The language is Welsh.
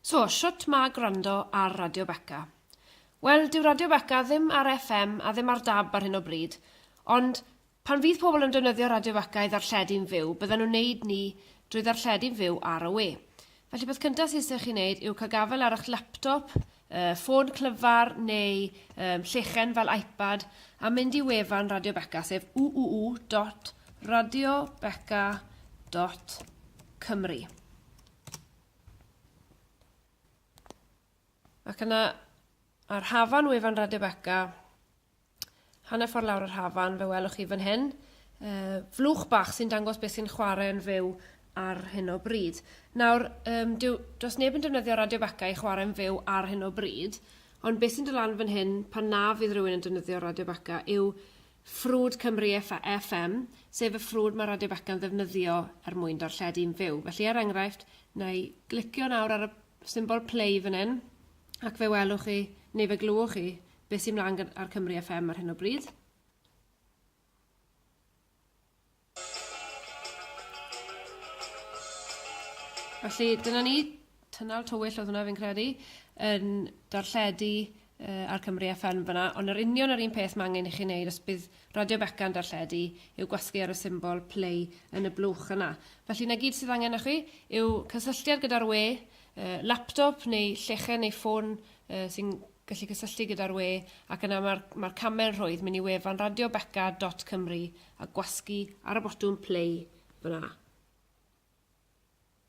So, shwt ma gwrando ar Radio Beca? Wel, dyw Radio Beca ddim ar FM a ddim ar dab ar hyn o bryd, ond pan fydd pobl yn defnyddio Radio Beca i ddarlledu'n fyw, bydden nhw'n neud ni drwy ddarlledu'n fyw ar y we. Felly peth cynta sy isio chi neud yw cael gafel ar ych laptop, yy ffôn clyfar neu um, llechen fel iPad a mynd i wefan Radio Beca, sef www.radiobeca.cymru. Ac yna, ar hafan wefan Radio Beca, hanner ffordd lawr yr hafan, fe welwch chi fan hyn, uh, flwch bach sy'n dangos beth sy'n chwarae yn fyw ar hyn o bryd. Nawr, um, diw, does neb yn defnyddio Radio Beca i chwarae yn fyw ar hyn o bryd, ond beth sy'n dylan fan hyn pan na fydd rhywun yn defnyddio Radio Beca yw ffrwd Cymru FM, sef y ffrwd mae Radio Beca'n ddefnyddio er mwyn darlledu'n fyw. Felly, er enghraifft, na i glicio nawr ar y symbol play fan hyn, ac fe welwch chi, neu fe glywch chi, beth sy'n mlaen ar Cymru FM ar hyn o bryd. Felly, dyna ni. Tynnal tywyll oedd hwnna, fi'n credu, yn darlledu yy ar Cymru FM fanna, ond yr union yr un peth mae angen i chi wneud os bydd Radio Beca yn darlledu yw gwasgu ar y symbol play yn y blwch yna. Felly 'na gyd sydd angen o chi yw cysylltiad gyda'r we, yy laptop neu llechen neu ffôn yy sy'n gallu cysylltu gyda'r we ac yna mae'r mae'r camau'n rhwydd mynd i wefan radiobeca.cymru a gwasgu ar y botwm play fyna.